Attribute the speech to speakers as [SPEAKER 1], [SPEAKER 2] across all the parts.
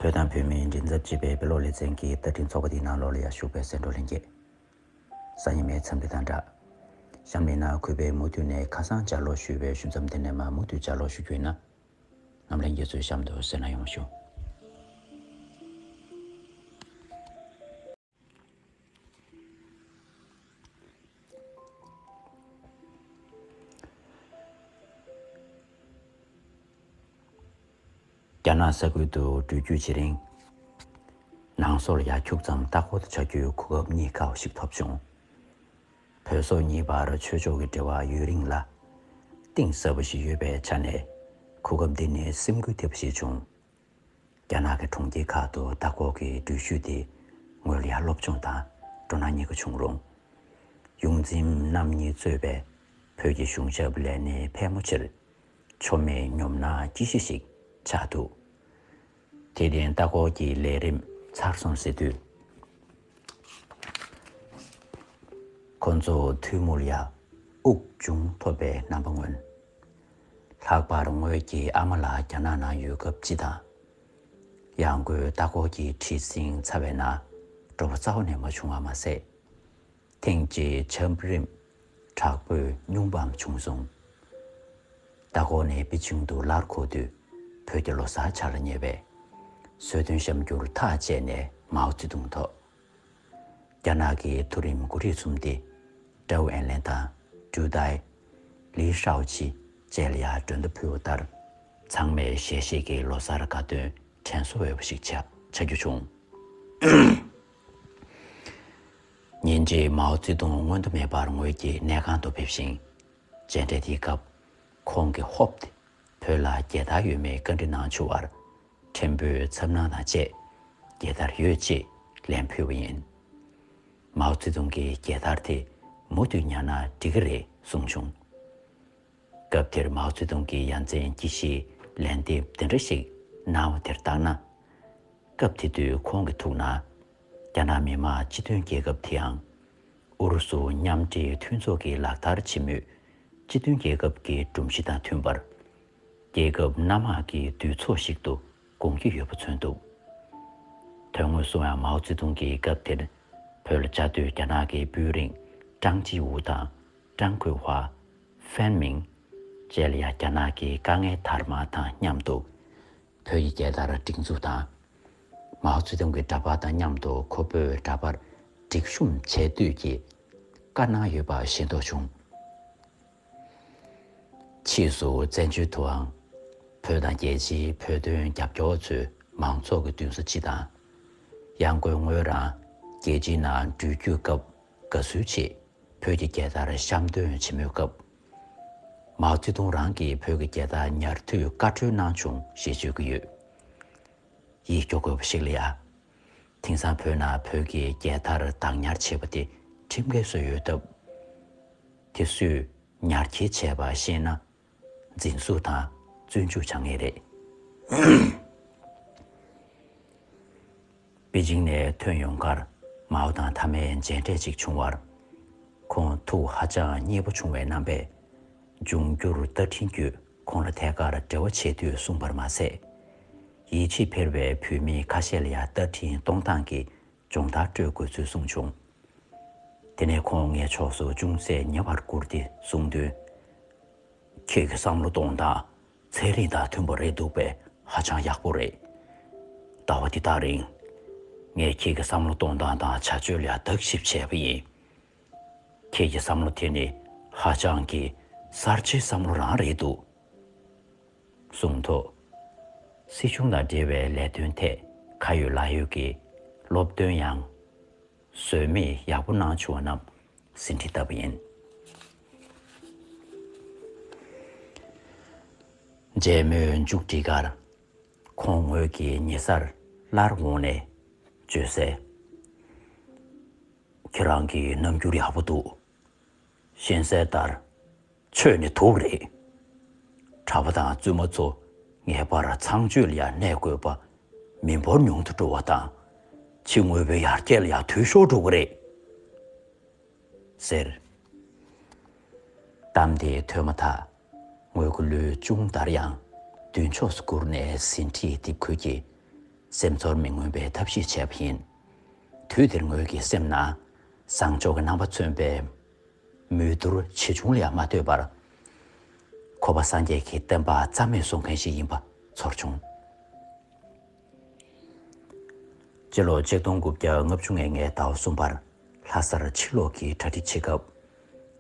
[SPEAKER 1] བོད་དང་བོད་མིའི་མགྲིན་ཚབ་ཅེས་པའི་བོད་ལོག་ལེ་ཚན་གྱི་བསྟར་འཕྲིན་ཚོགས་པ་དེའི་ནང་ལོགས་ལ་ཡར་ཞུགས་པའི་སེང་འབྲོག་ལྷན་རྒྱས། སང་ཉི་མའི་འཚམས་འདྲི་དང་སྦྲགས། གཤམ་གླེང་ནང་གུས་པས་མུ་མཐུད་ནས་ཁ་སང་བཅར་ལོག་ཞུས་པའི་ཞུ་མཚམས་དེ་ནས་མར་མུ་མཐུད་བཅར་ལོག་ཞུ་རྒྱུ་ཡིན་ན། ངམ་ལྷན་རྒྱས་ཚོའི་གཤམ་དུ་གསལ་ན་ཡོང་ཞུ། རྒྱ་ནག་ས་ཁུལ་དུ་འགྲུལ་བསྐྱོད་བྱེད་རིང། ནང་སོར་ཡར་འཁྱུག་ཙམ་ལྟ་སྐོར་དུ་བྱ་རྒྱུའི་གོ་སྐབས་རྙེད་དཀའ་བ་ཞིག་ཐོབ་བྱུང། བོད་སོག་གཉིས་བར་ཆོས་ཕྱོགས་ཀྱི་འབྲེལ་བ་ཡུན་རིང་ལ་གཏིང་ཟབ་པ་ཞིག་ཡོད་པའི་ཆ་ནས་གོ་སྐབས་འདི་ནི་སེམས་འགུལ་ཐེབས་པ་ཞིག་བྱུང། རྒྱ་ནག་གི་གྲོང་ཁྱེར་ཁག་ཏུ་ལྟ་སྐོར་གྱི་འགྲུལ་བཞུད་དེ་ངོས་ལ་སློབ་སྦྱོང་དང་སྤྲོ་སྣང་གཉིས་ཀ་བྱུང་རུང། ཡོངས་འཛིན་རྣམ་གཉིས་གཙོས་པའི་བོད་ཀྱི་གཞུང་ཞབས་ལས་སྣེ་ཕལ་མོ་ཆེར་ཆོ་མེད་གཉོམ་ན་སྐྱིད་ཤོས་ཤིག་ཆགས་འདུག་དེ་བརྟེན་ལྟ་སྐོར་གྱི་ལས་རིམ་ཚར་སོང་ཟེར་དུས། ཁོ་ཚོ་ཐུགས་མུར་ཡ་དབུགས་ཅུང་ཐོབ་པའི་རྣམ་པ་མངོན། ལྷག་པར་ངོས་ཀྱི་ཨ་མ་ལགས་རྒྱ་ནག་ནང་ཡོད་སྐབས་སྤྱི་དང། གཡག་མགོའི་ལྟ་སྐོར་གྱི་འཁྲིད་ཟིན་ཚར་བས་ན་སྤྲོ་བོ་རྩ་བ་ནས་མ་བྱུང་བ་མ་ཟད། ཐེངས་གཅིག་ཆབ་རིམ་དྲག་པོས་བསྙུང་བའམ་བྱུང་སོང། ལྟ་སྐོར་ནས་པེ་ཅིང་དུ་སླར་འཁོར་དུས་བོད་ཀྱི་ལོ་སར་འཆར་ཉེ་བས། གསོལ་སྟོན་བཤམས་རྒྱུར་ཐག་བཅད་ནས་མའོ་ཙེ་ཏུང་ཐོག་རྒྱ་ནག་གི་མཐོ་རིམ་མགོ་ཁྲིད་གསུམ་སྟེ། ཀྲའོ་ཨན་ལེན་དང་ཀྲུའུ་ཏའེ། ལིས་ཧྲའོ་ཆི་བཅས་ལ་ཡང་སྒྲོན་མདའ་ཕུལ་བ་ལྟར། ཚང་མས་ཞལ་བཞེས་ཀྱི་ལོ་སར་དགའ་སྟོན་དྲན་གསོ་འོས་པ་ཞིག་ཆགས་རྒྱུ་བྱུང། ཉིན་རྗེས་མའོ་ཙེ་ཏུང་སྔོན་དུ་མེད་པར་ངོས་ཀྱི་གནས་ཁང་དུ་ཕེབས་ཤིང། མཇལ་འཕྲད་དེའི་སྐབས། ཁོང་གིས་ཧོབ་སྟེ་བོད་ལ་རྒྱལ་དར་ཡོད་མེད་བཀའ་འདྲི་གནང་བྱུང་བར། ཕྲན་བུའི་འཚབ་སྣང་དང་བཅས་རྒྱལ་དར་ཡོད་ཅེས་ལན་ཕུལ་བ་ཡིན། མའོ་ཙེ་ཏུང་གིས་རྒྱལ་དར་དེ་མུ་མཐུད་ཉར་ན་འགྲིག་གི་རེད་གསུངས་བྱུང། སྐབས་དེར་མའོ་ཙེ་ཏུང་གིས་ཡ་མཚན་སྐྱི་ཤིའི་ལན་འདེབས་འདི་འདྲ་ཞིག་གནང་བ་དེར་བརྟགས་ན། སྐབས་དེ་དུས་ཁོང་གི་ཐུགས་ན། རྒྱ་ནག་མི་དམངས་སྤྱི་མཐུན་རྒྱལ་ཁབ་དེའང། ཨུ་རུ་སུ་མཉམ་འབྲེལ་མཐུན་ཚོགས་ཀྱི་ལག་བསྟར་བྱེད་མུས་སྤྱི་མཐུན་རྒྱལ་ཁབ་ཀྱི་སྒྲོམ་གཞི་དང་མཐུན་པར། རྒྱལ་ཁབ་སྣ་མང་གི་དུས་ཚོགས་ཤིག་ཏུ་དགོངས་ཀྱི་ཡོད་པ་མཚོན་འདུག་དོན་དངོས་སུའང་མའོ་ཙེ་ཏུང་གིས་སྐབས་དེར་བོད་ལ་བཅའ་སྡོད་རྒྱ་ནག་གི་དཔོན་རིགས་ཀྲང་ཅི་ཝུའུ་དང་ཀྲང་ཁོའེ་ཧྭ། Fan Ming། བཅས་ལ་ཡང་རྒྱ་ནག་གི་དཀའ་ངལ་དར་མ་དང་མཉམ་དུ་བོད་ཀྱི་རྒྱལ་དར་སྒྲིག་འཛུགས་དང། མའོ་ཙེ་ཏུང་གི་འདྲ་པར་དང་མཉམ་དུ་ཁོ་བོས་འདྲ་པར་སྒྲིག་གཤོམ་བྱས་འདོད་ཀྱི་བཀའ་གནང་ཡོད་པ་ཤེས་རྟོགས་བྱུང། ཕྱིས་སུ་བཙན་བྱོལ་དུའང་བོད་དང་རྒྱལ་སྤྱིའི་བོད་དོན་རྒྱབ་སྐྱོར་བ་ཚོས་མང་ཚོགས་ཀྱི་མདུན་ས་སྤྱི་དང། ཡང་སྒོས་ངོས་རང་རྒྱལ་སྤྱིའི་ནང་འགྲུལ་བསྐྱོད་སྐབས་དགའ་བསུའི་ཆེད་བོད་ཀྱི་རྒྱལ་དར་བཤམས་སྟོན་བྱེད་མུས་སྐབས། མའོ་ཙེ་ཏུང་རང་གིས་བོད་ཀྱི་རྒྱལ་དར་ཉར་དུས་བཀའ་འཁྲོལ་གནང་བྱུང་ཞེས་བརྗོད་ཀྱི་ཡོད། ཡིད་སྐྱོ་དགོས་པ་ཞིག་ལ་ཡང། དེང་སང་བོད་ནང་བོད་ཀྱི་རྒྱལ་དར་བདག་ཉར་བྱས་པ་དེ་ཁྲིམས་འགལ་བཟོས་ཡོད་སྟབས། དེ་སུས་ཉར་འཁྱེར་བྱས་པ་ཤེས་ན་འཛིན་བཟུང་དང་བཙོན་འཇུག་བྱ་ངེས་རེད། པེ་ཅིང་ནས་ཐོན་ཡོང་ཁར་མའོ་དང་མཐའ་མའི་མཇལ་འཕྲད་ཅིག་བྱུང་བར། ཁོང་ཐུགས་ཧ་ཅང་མཉེས་པོ་བྱུང་བའི་རྣམ་པས། འབྱུང་འགྱུར་རྟ་མགྲིན་བརྒྱུད་ཁོང་ལ་ཐད་ཀར་འབྲེལ་བ་བྱེད་དུས་གསུངས་པར་མ་ཟད། ཡིད་ཆེས་འཕེར་བའི་བོད་མི་ཁ་ཤས་ལ་ཡང་རྟ་མགྲིན་གཏོང་སྟངས་ཀྱི་སྦྱོང་བརྡར་སྤྲོད་དགོས་ཚུལ་གསུངས་བྱུང། དེ་ནས་ཁོང་ངའི་ཕྱོགས་སུ་ཅུང་ཟད་ཉེ་བར་བསྐུར་ཏེ་གསུངས་དོན། ཁྱེད་ཀྱི་བསམ་བློ་གཏོང་སྟངས་ཚན་རིག་དང་མཐུན་པོ་རེད་འདུག་པས་ཧ་ཅང་ཡག་པོ་རེད། ཟླ་བ་འདི་དག་རིང། ངས་ཁྱེད་ཀྱི་བསམ་བློ་གཏོང་སྟངས་དང་བྱ་སྤྱོད་ལ་བརྟག་ཞིབ་བྱས་པ་ཡིན། ཁྱེད་ཀྱི་བསམ་བློ་དེ་ནི་ཧ་ཅང་གི་གསར་བརྗེའི་བསམ་བློ་རང་རེད་འདུག། གསུངས་འདུག་སྲིད་གཞུང་དང་འབྲེལ་བའི་ལས་དོན་ཐད་ཁ་ཡོད་ལག་ཡོད་ཀྱི་སློབ་སྟོན་ཡང་ཟོལ་མེད་ཡག་པོ་གནང་བྱུང་བ་རྣམས་ཟིན་བྲིས་ལྟ་བུ་ཡིན། འབྲེལ་མོལ་མཇུག་བསྒྲིལ་ཁར་ཁོང་ངོས་ཀྱི་ཉེ་སར་སླར་འོང་ནས་བརྗོད་གསལ། ཁྱེད་རང་གི་རྣམ་འགྱུར་ཡག་པོ་འདུག། གཤེན་གསལ་ལྟར་ཆོས་ནི་དུག་རེད། གྲྭ་པ་དང་བཙུན་མ་ཚོ་ངེས་པར་ཚངས་སྤྱོད་ལ་ཡང་གནས་དགོས་པ། མི་འབོར་ཉུང་དུ་འགྲོ་བ་དང་ཕྱི་དངོས་པོའི་ཡར་རྒྱས་ལ་ཡང་དུས་ཤོར་འགྲོ་གི་རེད། ཟེར། གཏམ་དེ་ཐོས་མ་ཐག་ངོས་ཀྱི་ལུས་ཅུང་འདར་ཡང་མདུན་ཕྱོགས་སུ་བསྐུར་ནས་ཟིན་བྲིས་འདེབས་ཁུལ་གྱིས་སེམས་ཚོར་མི་མངོན་པའི་ཐབས་ཤེས་བྱས་པ་ཡིན། དུས་དེར་ངོས་ཀྱི་སེམས་ན་བཟང་ཕྱོགས་ཀྱི་རྣམ་པ་མཚོན་པའི། མོས་བསྡུར་ཆེ་ཆུང་ལ་ཡང་མ་ལྟོས་པར། ཁོ་པ་སངས་རྒྱས་ཀྱི་བསྟན་པ་རྩ་མེད་བཟོ་མཁན་ཞིག་ཡིན་པ་ཚོར་བྱུང། སྤྱི་ལོ་ཆིག་སྟོང་དགུ་བརྒྱ་ལྔ་བཅུ་ལྔའི་ངའི་ཟླ་བ་གསུམ་པར་ལྷ་སར་ཕྱིར་ལོག་གི་གྲ་སྒྲིག་བྱེད་སྐབས།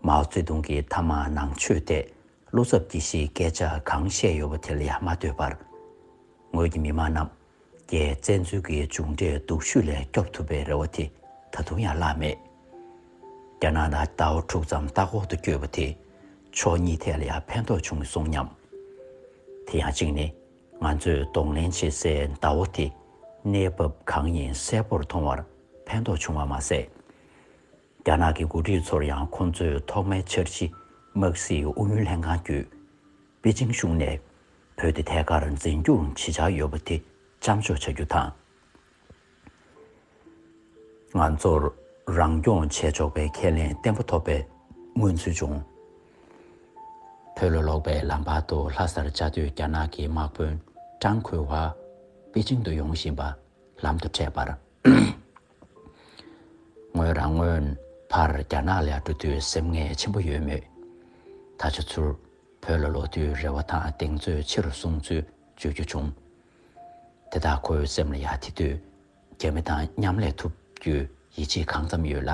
[SPEAKER 1] མའོ་ཙེ་ཏུང་གིས་མཐའ་མ་ནང་ཆོས་དེ་བློ་འཚབ་སྐྱེ་གཞིའི་སྐད་ཆ་གང་བཤད་ཡོད་པ་དེ་ལ་ཡང་མ་ལྟོས་པར། ངོས་ཀྱི་མི་མང་རྣམས་ཀྱིས་བཙན་འཛུལ་གྱི་མཇུག་འབྲས་སྡུག་ཤོས་ལས་སྐྱོབ་ཐུབ་པའི་རེ་བ་དེ་ད་དུང་ཡང་བརླགས་མེད། རྒྱ་ནག་ལ་ཟླ་བ་དྲུག་ཙམ་བལྟ་ཁོག་ཏུ་བསྐྱོད་པ་དེས་ཕྱོགས་གཉིས་ཐད་ལ་ཡང་ཕན་ཐོགས་བྱུང་མི་སོང་སྙམ། དེ་ཡང་གཅིག་ནི་ང་ཚོས་གདོང་ལེན་བྱེད་སའི་ཟླ་བ་དེ་གནས་བབ་གང་ཡིན་གསལ་པོར་མཐོང་བར་ཕན་ཐོགས་བྱུང་བ་མ་ཟད། རྒྱ་ནག་གི་འགོ་ཁྲིད་ཚོར་ཡང་ཁོང་ཚོས་ཐོག་མའི་ཆར་ཕྱི་དམག་སྲིད་ཨུ་ཡོན་ལྷན་ཁང་བརྒྱུད་པེ་ཅིང་གཞུང་ནས་བོད་དེ་ཐད་ཀར་འཛིན་རྒྱུར་ཇི་ཆགས་ཡོད་པ་དེ་བཅག་འཇོག་བྱ་རྒྱུ་དང། ང་ཚོར་རང་སྐྱོང་བྱས་ཆོག་པའི་ཁས་ལེན་བརྟན་པོ་ཐོབ་པའི་མངོན་ཚུལ་བྱུང། བོད་ལ་ལོག་པའི་ལམ་བར་དུ་ལྷ་སར་བཅའ་སྡོད་རྒྱ་ནག་གི་དམག་དཔོན་ཀྲང་ཁུའེ་ཝཱ་པེ་ཅིང་དུ་ཡོང་བཞིན་པ་ལམ་དུ་འཕྲད་པར། ངོས་རང་སྔོན་བར་རྒྱ་ནག་ལ་འགྲོ་དུས་སེམས་ངལ་ཆེན་པོ་ཡོད་མོད། ད་ཆ་ཚུར་བོད་ལ་ལོག་དུས་རེ་བ་དང་གདེང་ཚོད་ཆེ་རུ་སོང་ཚུལ་བརྗོད་རྒྱུ་བྱུང། དེ་དག་ཁོའི་སེམས་ལ་ཡ་དེ་དུས་རྒྱ་མི་དང་མཉམ་ལས་ཐུབ་རྒྱུའི་ཡིད་ཆེས་གང་ཙམ་ཡོད་ལ།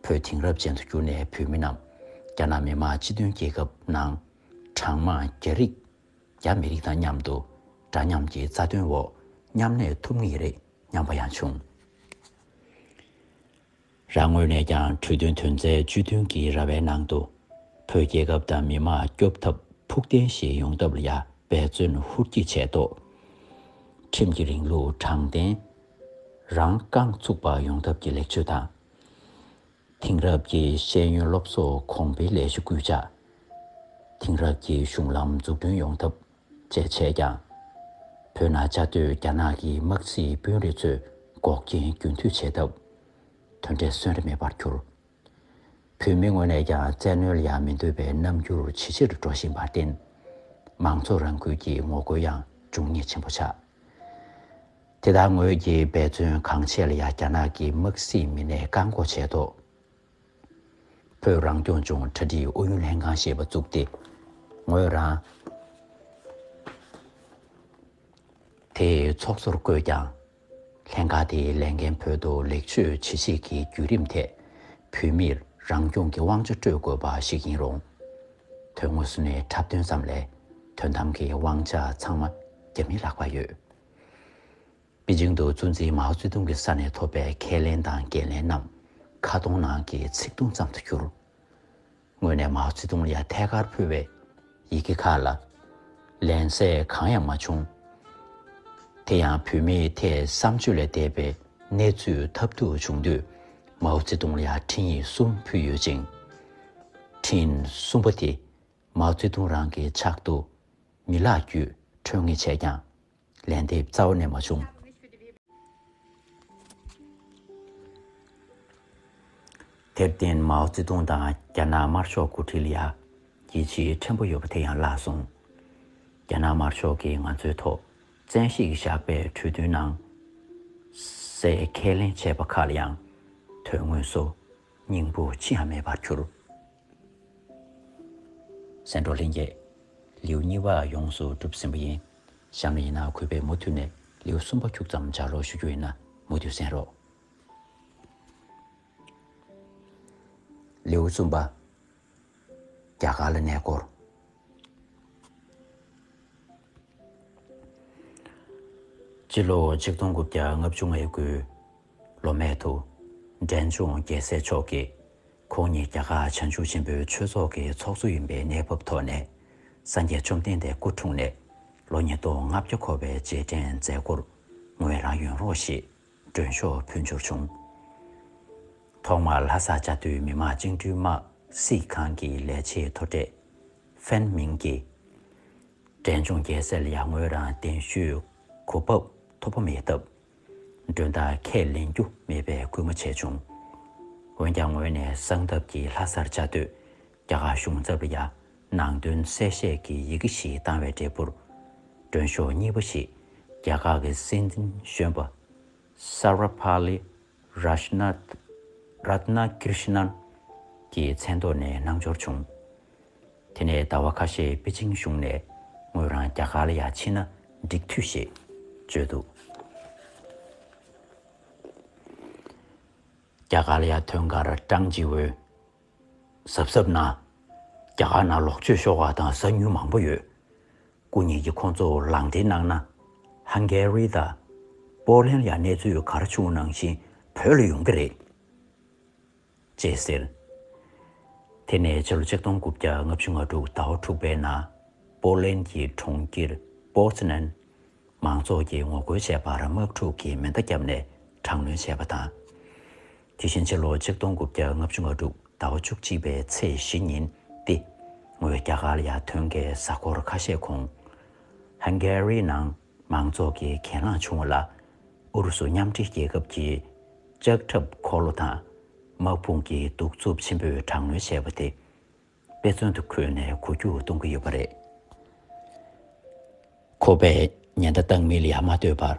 [SPEAKER 1] བོད་དེང་རབས་ཅན་དུ་གྱུར་ནས་བོད་མི་རྣམས་རྒྱ་ནག་མི་དམངས་སྤྱི་མཐུན་རྒྱལ་ཁབ་ནང་གྲངས་མང་རྒྱ་རིགས་རྒྱ་མི་རིགས་དང་མཉམ་དུ་འདྲ་མཉམ་གྱི་རྩ་དོན་འོག་མཉམ་གནས་ཐུབ་ངེས་རེད། སྙམ་པ་ཡང་བྱུང། རང་ངོས་ནས་ཀྱང་གྲོས་མཐུན་དོན་ཚན་བཅུ་བདུན་གྱི་ར་བའི་ནང་དུ། བོད་རྒྱལ་ཁབ་དང་མི་དམངས་སྐྱོབ་ཐབས་ཕུགས་བརྟན་ཞིག་ཡོང་ཐབས་ལ་ཡང་འབད་བརྩོན་ཧུར་གྱིས་བྱས་ཐོག། ཁྲིམས་ཀྱི་རིང་ལུགས་དྲང་བདེན། རང་རྐང་ཚུགས་པ་ཡོང་ཐབས་ཀྱི་ལེགས་བཅོས་དང། དེང་རབས་ཀྱི་ཤེས་ཡོན་སློབ་གསོ་གོང་འཕེལ་ལས་གཞི་སྐུལ་ལྕག། དེང་རབས་ཀྱི་གཞུང་ལམ་འཛུགས་སྐྲུན་ཡོང་ཐབས། ཅེས་བྱས་ཀྱང། བོད་ན་བཅའ་སྡོད་རྒྱ་ནག་གི་དམག་རྩིས་དཔོན་རིགས་ཚོས་འགོག་རྐྱེན་རྒྱུན་མཐུད་བྱས་སྟབས། དོན་འབྲས་སོན་རེ་མེད་པར་གྱུར། བོད་མི་ངོས་ནས་ཀྱང་བཙན་གནོན་ལ་མི་འདོད་པའི་རྣམ་འགྱུར་ཇེ་ཆེར་འགྲོ་བཞིན་པར་བརྟེན། མང་ཚོགས་རང་འགུལ་གྱི་ངོ་རྒོལ་ཡང་འབྱུང་ཉེས་ཆེན་པོ་ཆགས། དེ་དག་ངོས་ཀྱིས་འབད་བརྩོན་གང་བྱས་ལ་ཡང་རྒྱ་ནག་གི་དམག་རྩིས་མི་སྣས་བཀག་འགོག་བྱས་ཐོག། བོད་རང་སྐྱོང་ལྗོངས་གྲ་སྒྲིག་ཨུ་ཡོན་ལྷན་ཁང་ཞེས་པ་བཙུགས་ཏེ། ངོས་རང་དེ་ཚོགས་གཙོར་བསྐོས་ཀྱང། ལྷན་ཁང་དེའི་ལས་འགན་བོད་དུ་ལེགས་བཅོས་བྱེད་ཆེད་ཀྱི་བརྒྱུད་རིམ་ཐད། བོད་མིར་རང་སྐྱོང་གི་དབང་ཆ་སྤྲོད་དགོས་པ་ཞིག་ཡིན་རུང། དོན་དངོས་སུ་ནས་འཁྲབ་སྟོན་ཙམ་ལས་དོན་དམ་གྱི་དབང་ཆ་ཚང་མ་རྒྱ་མིས་བརླག་པ་ཡོད། པེ་ཅིང་དུ་གཙོ་འཛིན་མའོ་ཙེ་ཏུང་གི་ས་ནས་ཐོབ་པའི་ཁས་ལེན་དང་འགན་ལེན་རྣམས་ཁ་སྟོང་ནང་གི་ཚིག་སྟོང་ཙམ་དུ་གྱུར། དངོས་ནས་མའོ་ཙེ་ཏུང་ལ་ཡང་ཐད་ཀར་ཕུལ་བའི་ཡི་གེ་ཁག་ལ་ལན་གསལ་གང་ཡང་མ་བྱུང། དེ་ཡང་བུད་མེད་དེས་བསམ་སྤྱོད་ལས་འདས་པའི་གནས་ཚུལ་ཐབས་སྡུག་བྱུང་དུས་མའོ་ཙེ་ཏུང་ལ་ཡང་འཕྲིན་ཡིག་གསུམ་ཕུལ་ཡོད་ཅིང། འཕྲིན་གསུམ་པ་དེ་མའོ་ཙེ་ཏུང་རང་གི་ཕྱག་ཏུ་མི་ལག་བརྒྱུད་འཕྲོད་ངེས་བྱས་ཀྱང་ལན་དེ་རྩ་བ་ནས་མ་བྱུང། དེར་བརྟེན་མའོ་ཙེ་ཏུང་དང་རྒྱ་ནག་དམར་ཕྱོགས་སྐུ་ཁྲིད་ལ་རྒྱལ་སྤྱིའི་ཕྲན་བུ་ཡོད་པ་དེ་ཡང་བརླགས་སོང། རྒྱ་ནག་དམར་ཕྱོགས་ཀྱིས་ང་ཚོའི་ཐོག་བཙན་ཤེད་ཀྱིས་བཞག་པའི་གྲོས་མཐུན་ནང་གསལ་ཁས་ལེན་བྱས་པ་ཁག་ལ་ཡང་དོན་དངོས་སུ་སྙིང་པོ་ཅི་ཡང་མེད་པར་གྱུར། སེང་འབྲོག་ལྷན་རྒྱས། ལེའུ་གཉིས་བ་ཡོངས་སུ་གྲུབ་ཟིན་པ་ཡིན། གཤམ་ལ་ཡིན་ན་གུས་པས་མུ་མཐུད་ནས་ལེའུ་གསུམ་པ་འཁྱུག་ཙམ་སྦྱར་རོགས་ཞུ་རྒྱུ་ཡིན་ན་མུ་མཐུད་གསན་རོགས། ལེའུ་གསུམ་པ། རྒྱ་གར་ལ་གནས་སྐོར། སྤྱི་ལོ་ཆིག་སྟོང་དགུ་བརྒྱ་ལྔ་བཅུ་ལྔའི་དགུའི་ལོ་སྨད་དུ། འབྲས་ལྗོངས་རྒྱལ་སྲས་མཆོག་གིས། ཁོང་ཉིད་རྒྱ་གར་བྱང་ཆུབ་ཆེན་པོའི་ཆོས་ཚོགས་ཀྱི་ཚོགས་གཙོ་ཡིན་པའི་གནས་བབ་ཐོག་ནས། སངས་རྒྱས་བཅོམ་ལྡན་འདས་སྐུ་འཁྲུངས་ནས་ལོ་ཉིས་སྟོང་ལྔ་བརྒྱ་འཁོར་བའི་རྗེས་དྲན་མཛད་སྒོར་ངོས་རང་ཡོང་རོགས་ཞེས་མགྲོན་ཤོག་ཕུལ་འབྱོར་བྱུང། ཐོག་མར་ལྷ་ས་བཅའ་སྡོད་མི་དམངས་བཅིངས་འགྲོལ་དམག་སྲིད་ཁང་གི་ལས་བྱེད་མཐོ་གྲས། ཧྥན་མིང་གིས། འབྲས་ལྗོངས་རྒྱལ་སྲས་ལ་ཡར་ངོས་རང་གདན་ཞུའི་གོ་བབ་ཐོབ་པ་མེད་སྟབས། མགྲོན་དག་ཁས་ལེན་རྒྱུ་མེད་པའི་སྐུལ་མ་བྱས་བྱུང། འོན་ཀྱང་ངོས་ནས་གསང་སྟབས་ཀྱིས་ལྷ་སར་བཅའ་སྡོད་རྒྱ་གར་གཞུང་ཚབ་ལ་ཡང་ནང་དོན་གསལ་བཤད་ཀྱི་ཡི་གེ་ཞིག་བཏང་བའི་འབྲས་བུར། མགྲོན་ཤོག་གཉིས་པ་ཞིག་རྒྱ་གར་གྱི་སྲིད་འཛིན་གཞོན་པ Sarvepalli Radhakrishnan གྱི་མཚན་ཐོག་ནས་གནང་འབྱོར་བྱུང། དེ་ནས་ཟླ་བ་ཁ་ཤས་པེ་ཅིང་བཞུགས་ནས་ངོས་རང་རྒྱ་གར་ལ་ཡང་ཕྱིན་ན་འགྲིག་འཐུས་ཞེས་བརྗོད་འདུག་རྒྱ་གར་ལ་ཡང་ཐོན་ཁར་ཀྲང་ཇི་ཝོས་གཟབ་གཟབ་གནང། རྒྱ་གར་ནང་ལོག་སྤྱོད་ཤོར་བ་དང་ཟ་ཉུལ་མང་པོ་ཡོད། སྐུ་ཉིད་ཀྱིས་ཁོང་ཚོར་ལག་འབྲེལ་གནང་ན། Hungary དང། Poland ལ་ཡང་གནས་ཚུལ་ག་རེ་བྱུང་ནང་བཞིན་བོད་ལ་ཡོང་གི་རེད། ཅེས་ཟེར། དེ་ནས་ཕྱི་ལོ་ཆིག་སྟོང་དགུ་བརྒྱ་ལྔ་བཅུ་ང་དྲུག་ཟླ་བ་དྲུག་པའི་ནང་པོ་ལན་གྱི་གྲོང་ཁྱེར Poznan མང་ཚོགས་ཀྱིས་ངོ་རྒོལ་བྱས་པར་དམག་འཁྲུག་གི་མེ་མདའ་བརྒྱབ་ནས་དྲག་གནོན་བྱས་པ་དང། དེ་བཞིན་ཕྱི་ལོ་ཆིག་སྟོང་དགུ་བརྒྱ་ལྔ་བཅུ་ང་དྲུག་ཟླ་བ་བཅུ་གཅིག་པའི་ཚེས་བཞི་ཉིན་ཏེ་ངོས་རྒྱ་གར་ཡར་ཐོན་གྱི་གཟའ་འཁོར་ཁ་ཤས་གོང Hungary ནང་མང་ཚོགས་ཀྱི་གྱེན་ལངས་བྱུང་བ་ལ་ཨུ་རུ་སུ་མཉམ་འབྲེལ་རྒྱལ་ཁབ་ཀྱིས་ལྕགས་ཁྲབ་འཁོར་ལོ་དང་དམག་དཔུང་གི་གདུག་རྩུབ་ཆེན་པོས་དྲག་གནོན་བྱས་པ་དེ་དཔེ་མཚོན་དུ་འཁོད་ནས་གོ་རྒྱུ་གཏོང་གི་ཡོད་པ་རེད། ཁོ་པས་ཉེན་བརྡ་བཏང་མི་ལ་ཡང་མ་ལྟོས་པར།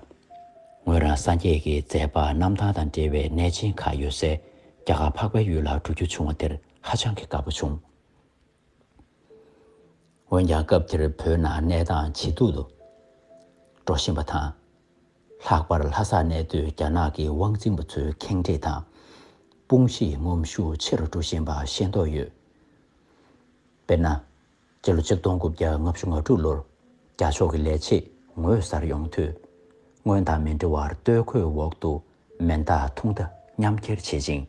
[SPEAKER 1] ངོས་རང་སངས་རྒྱས་ཀྱི་མཛད་པ་རྣམ་ཐར་དང་འབྲེལ་བའི་གནས་ཆེན་ཁག་ཡོད་སའི་རྒྱ་གར་འཕགས་པའི་ཡུལ་ལ་འགྲོ་རྒྱུ་བྱུང་བ་དེར་ཧ་ཅང་གི་དགའ་པོ་བྱུང། འོན་ཀྱང་སྐབས་དེར་བོད་ནང་གནས་སྟངས་ཇེ་སྡུག་ཏུ་འགྲོ་བཞིན་པ་དང། ལྷག་པར་ལྷ་སར་གནས་སྡོད་རྒྱ་ནག་གི་དབང་འཛིན་པ་ཚོའི་ཁེངས་དྲེགས་དང་དཔུང་བཤིག་ངོམ་ཤུགས་ཆེ་རུ་འགྲོ་བཞིན་པ་ཤེས་མདོག་ཡོད། དཔེར་ན། སྤྱི་ལོ་ཆིག་སྟོང་དགུ་བརྒྱ་ལྔ་བཅུ་ང་དྲུག་ལོར་རྒྱ་ཕྱོགས་ཀྱི་ལས་བྱེད་ངོས་གསར་ཡོང་དུས། སྔོན་དང་མི་འདྲ་བར་སྟོད་གོས་འོག་ཏུ་མེ་མདའ་ཐུང་མདའ་མཉམ་འཁྱེར་བྱེད་ཅིང།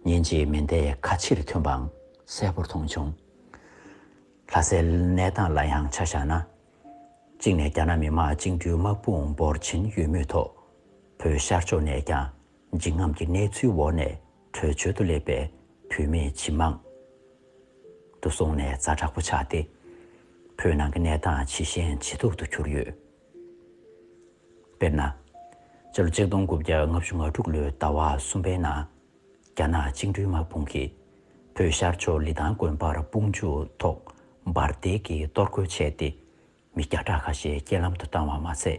[SPEAKER 1] ཉིན་གཅིག་མེ་མདའི་ཁ་ཕྱིར་ཐོན་པའང་གསལ་པོར་མཐོང་བྱུང། ལྷ་སའི་གནས་སྟངས་ལ་ཡང་ཆ་བཞག་ན། གཅིག་ནས་རྒྱ་ནག་མི་དམངས་བཅིངས་འགྲོལ་དམག་དཔུང་འབོར་ཆེན་ཡོད་མུས་ཐོག་བོད་ཤར་ཕྱོགས་ནས་ཀྱང་འཇིགས་རྔམ་གྱི་གནས་ཚུལ་འོག་ནས་བྲོས་བྱོལ་དུ་སླེབས་པའི་བོད་མི་ཇི་མང་དུ་སོང་ནས་རྫ་དྲག་པོ་ཆགས་ཏེ། བོད་ནང་གི་གནས་སྟངས་ཇི་ཞན་ཇི་སྡུག་ཏུ་གྱུར་ཡོད། དཔེར་ན། སྤྱི་ལོ་གཅིག་སྟོང་དགུ་བརྒྱ་ལྔ་བཅུ་ང་དྲུག་ལོའི་ཟླ་བ་གསུམ་པའི་ནང། རྒྱ་ནག་བཅིངས་འགྲོལ་དམག་དཔུང་གིས་བོད་ཤར་ཕྱོགས་ལི་ཐང་དགོན་པར་དཔུང་འཇུག་ཐོག་འབར་མདེལ་གྱིས་གཏོར་རྒོལ་བྱས་ཏེ། མི་བརྒྱ་ཕྲག་ཁ་ཤས་རྐྱེན་ལམ་དུ་བཏང་བ་མ་ཚད།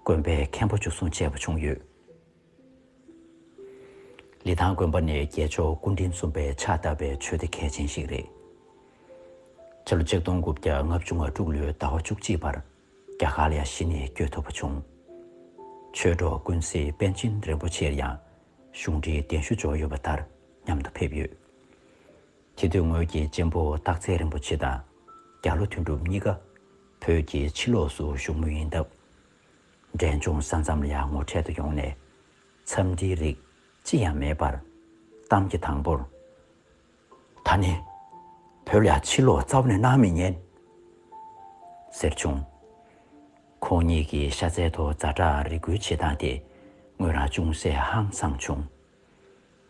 [SPEAKER 1] དགོན་པའི་མཁན་པོ་འཇུ་བཟུང་བྱས་པ་བྱུང་ཡོད། ལི་ཐང་དགོན་པ་ནི་རྒྱལ་མཆོག་སྐུ་དྲིན་འཛོམས་པའི་ཕྱག་བཏབ་པའི་ཆོས་སྡེ་གལ་ཆེན་ཞིག་རེད། སྤྱི་ལོ་གཅིག་སྟོང་དགུ་བརྒྱ་ལྔ་བཅུ་ང་དྲུག་ལོའི་ཟླ་བ་བཅུ་གཅིག་པར། རྒྱ་གར་ལ་ཡང་གཞི་ནས་བསྐྱོད་ཐུབ་པ་བྱུང། ཆོས་གྲོགས་ཀུན་གཟིགས་པཎ་ཆེན་རིན་པོ་ཆེར་ཡང་གཞུང་འབྲེལ་གདན་ཞུ་འབྱོར་ཡོད་པ་ལྟར་མཉམ་དུ་ཕེབས་ཡོད། དེ་དུས་ངོས་ཀྱིས་གཅེན་པོ་སྟག་འཚེར་རིན་པོ་ཆེ་དང་རྒྱ་ལོ་དོན་གྲུབ་གཉིས་ཀ་བོད་ཀྱི་ཕྱི་ལོགས་སུ་བཞུགས་མུས་ཡིན་སྟབས། འབྲས་ལྗོངས་ས་མཚམས་ལ་ངོ་འཕྲད་དུ་ཡོང་ནས་འཚམས་འདྲིའི་རིགས་ཅི་ཡང་མེད་པར། གཏམ་གྱི་དང་པོར། ད་ནི་བོད་ལ་ཕྱིར་ལོག་རྩ་བ་ནས་གནང་མི་ཉན། ཟེར་བྱུང། ཁོང་གཉིས་ཀྱི་ཤ་ཚལ་དུ་རྫ་བྲག་རི་སྒུལ་བྱེད་སྟངས་དེ་ངོས་རང་ཅུང་ཟད་ཧང་སངས་བྱུང།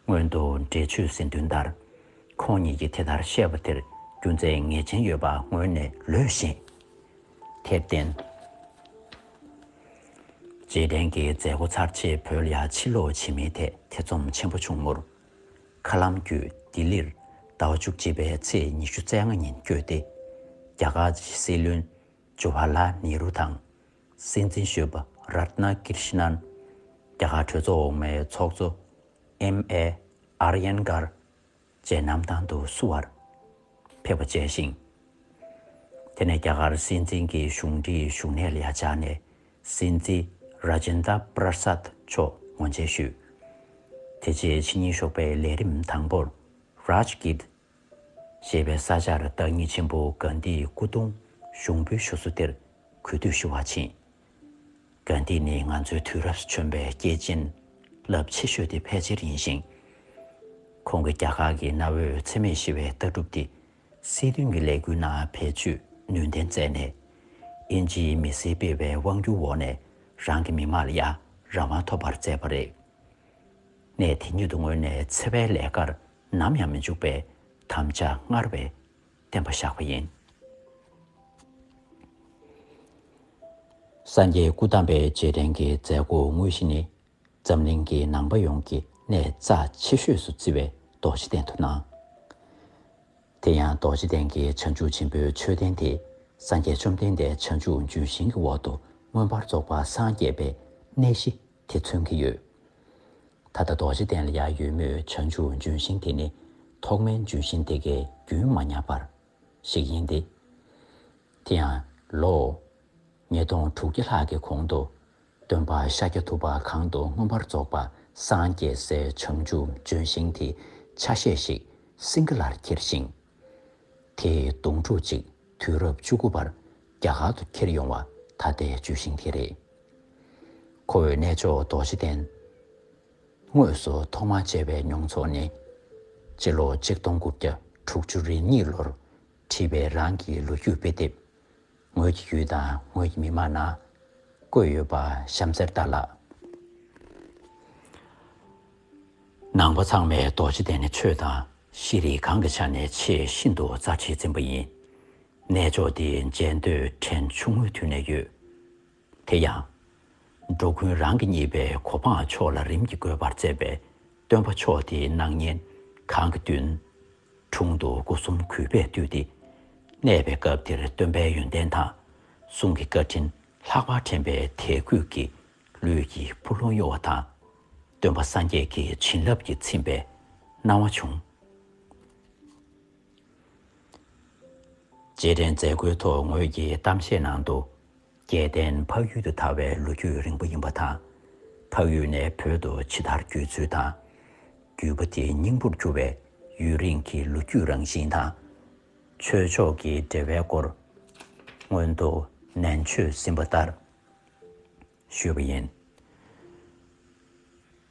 [SPEAKER 1] སྔོན་དུ་འབྲེལ་ཆོད་ཟིན་དོན་ལྟར་ཁོང་གཉིས་ཀྱིས་དེ་ལྟར་བཤད་པ་དེར་རྒྱུ་མཚན་ངེས་ཅན་ཡོད་པ་ངོས་ནས་ལོས་བཞིན། དེར་བརྟེན། རྗེས་དྲན་གྱི་མཛད་སྒོ་ཚར་རྗེས་བོད་ལ་ཕྱིར་ལོག་བྱེད་མིན་ཐད་ཐེ་ཚོམ་ཆེན་པོ་བྱུང་ངོར། མཁའ་ལམ་བརྒྱུད་ལྡི་ལིར་ཟླ་བ་བཅུ་གཅིག་པའི་ཚེས་ཉི་ཤུ་རྩ་ལྔ་ཉིན་བསྐྱོད་དེ། རྒྱ་གར་གྱི་སྲིད་བློན་ཇུ་བྷ་ལ་ནེ་རུ་དང། སྲིད་འཛིན་གཞོན་པ་ར་ཏི་ན་ཀིར་ཤི་ནན། རྒྱ་གར་གྲོས་ཚོགས་འོག་མའི་ཚོགས་གཙོ་ཨེམ་ཨེ་ཨར་ཡན་གར། བཅས་གནམ་ཐང་དུ་བསུ་བར། ཕེབས་པ་བཅས་ཤིང། དེ་ནས་རྒྱ་གར་སྲིད་འཛིན་གྱི་གཞུང་འབྲེལ་བཞུགས་གནས་ལ་བཅར་ནས་སྲིད་འཛིན Rajendra Prasad མཆོག་ངོ་མཇལ་ཞུས། དེ་རྗེས་ཕྱི་ཉིན་ཞོགས་པའི་ལས་རིམ་དང་པོར Rajgir ཞེས་པའི་ས་ཆར་བདག་ཉིད་ཆེན་པོ་གཱནྡྷིའི་སྐུ་གདུང་ཞུགས་འབུལ་ཞུ་སྲོལ་དེར་གུས་འདུད་ཞུ་བར་ཕྱིན། དགོན་འདི་ནི་ང་ཚོའི་དུས་རབས་བྱོན་པའི་སྐྱེས་ཆེན་རླབས་ཆེ་ཤོས་དེ་ཕལ་ཆེར་ཡིན་ཞིང། ཁོང་གིས་རྒྱ་གར་གྱི་གནའ་བོའི་འཚེ་མེད་ཞི་བའི་ལྟ་གྲུབ་འདི་སྲིད་དོན་གྱི་ལས་འགུལ་ནང་བེད་སྤྱོད་ནུས་ལྡན་མཛད་ནས། དབྱིན་ཇིའི་མི་སེར་སྤེལ་བའི་དབང་བསྒྱུར་འོག་ནས་རང་གི་མི་མང་ལ་ཡང་རང་དབང་ཐོབ་པར་མཛད་པ་རེད། གནས་དེ་ཉིད་དུ་ངོས་ནས་འཚེ་བའི་ལས་ཀར་ནམ་ཡང་མི་འཇུག་པའི་དམ་བཅའ་སྔར་བས་བསྟན་པ་བཞག་པ་ཡིན། སངས་རྒྱས་སྐུ་བལྟམས་པའི་རྗེས་དྲན་གྱི་མཛད་སྒོ་དངོས་གཞི་ནི། འཛམ་གླིང་གི་ནང་པ་ཡོངས་ཀྱིས་གནས་རྩ་ཆེ་ཤོས་སུ་བརྩི་བའི་རྡོ་རྗེ་གདན་དུ་གནང། དེ་ཡང་རྡོ་རྗེ་གདན་གྱི་བྱང་ཆུབ་ཆེན་པོའི་མཆོད་རྟེན་དེ་སངས་རྒྱས་བཅོམ་ལྡན་འདས་བྱང་ཆུབ་འབྱུང་ཞིང་གི་འོག་ཏུ་མངོན་པར་རྫོགས་པ་སངས་རྒྱས་པའི་གནས་གཞི་དེ་མཚོན་གྱི་ཡོད། ད་ལྟ་རྡོ་རྗེ་གདན་ལ་ཡར་ཡོད་མོད་བྱང་ཆུབ་ལྗོན་ཤིང་དེ་ནི་ཐོག་མའི་ལྗོན་ཤིང་དེ་གའི་རྒྱུན་མ་ཉག་པར་ཞིག་ཡིན་ཏེ། དེ་ཡང་ལོ་ཉིས་སྟོང་དྲུག་བརྒྱ་ལྷག་གི་གོང་དུ་སྟོན་པ་ཤཱཀྱ་ཐུབ་པ་གང་དུ་མངོན་པར་རྫོགས་པ་སངས་རྒྱས་སའི་བྱང་ཆུབ་ལྗོན་ཤིང་དེའི་ཆ་ཤས་ཤིག་སིངྒ་ལར་ཁྱེར་ཞིང། དེས་སྡོང་ཕྲུག་ཅིག་དུས་རབས་བཅུ་དགུ་པར་རྒྱ་གར་དུ་ཁྱེར་ཡོང་བ་ད་ལྟའི་བརྗོད་གཞིན་དེ་རེད། ཁོ་བོས་གནས་མཆོག་རྡོ་རྗེ་གདན་དངོས་སུ་ཐོག་མར་མཇལ་བའི་མྱོང་ཚོར་ནི། སྤྱི་ལོ་གཅིག་སྟོང་དགུ་བརྒྱ་དྲུག་ཅུ་རེ་གཉིས་ལོར་བྲིས་པའི་རང་གི་ལོ་རྒྱུས་དཔེ་དེབ། ངོས་ཀྱི་ཡུལ་དང་ངོས་ཀྱི་མི་དམངས་ནང་བཀོད་ཡོད་པ་གཤམ་གསལ་ལྟར་ལགས། ནང་པ་ཚང་མས་རྡོ་རྗེ་གདན་ནི་ཆོས་དང་ཤེས་རིག་གང་གི་ཆ་ནས་ཆེས་ཤིན་ཏུ་རྩ་ཆེའི་རྩིང་པ་ཡིན། གནས་མཆོག་འདི་མཇལ་འདོད་དྲན་ཆུང་ངུའི་དུས་ནས་ཡོད། དེ་ཡང། འགྲོ་ཀུན་རང་གི་གཉིས་པའི་གོ་འཕང་མཆོག་ལ་རིམ་གྱིས་འགོད་པར་བསྩལ་པའི་སྟོན་པ་མཆོག་དེའི་སྣང་བརྙན་གང་གི་མདུན། དྲུང་དུ་སྐུ་གསུམ་གུས་པས་བཏུད་དེ། གནས་པའི་སྐབས་དེར་སྟོན་པའི་ཡོན་ཏན་དང་གསུང་གི་བཀའ་དྲིན་ལྷག་པར་དྲན་པའི་དད་གུས་ཀྱིས་ལུས་ཀྱི་འཕུར་ལྷོང་གཡོ་བ་དང། སྟོན་པ་སངས་རྒྱས་ཀྱི་བྱིན་རླབས་ཀྱིས་ཚིམས་པའི་སྣང་བ་བྱུང། རྗེས་དྲན་མཛད་སྒོའི་ཐོག་ངོས་ཀྱིས་གཏམ་བཤད་ནང་དུ། སྐལ་ལྡན་འཕགས་ཡུལ་དུ་དར་བའི་ལོ་རྒྱུས་རིང་པོ་ཡིན་པ་དང། འཕགས་ཡུལ་ནས་བོད་དུ་ཇི་ལྟར་བསྒྱུར་ཚུལ་དང། བརྒྱུད་པ་དེ་སྙིང་པོར་གྱུར་བའི་ཡུན་རིང་གི་ལོ་རྒྱུས་རང་བཞིན་དང། ཆོས་ཕྱོགས་ཀྱི་འབྲེལ་བའི་སྐོར། སྔོན་དུ་ནན་ཆོས་ཟིན་པ་ལྟར་ཞུས་པ་ཡིན།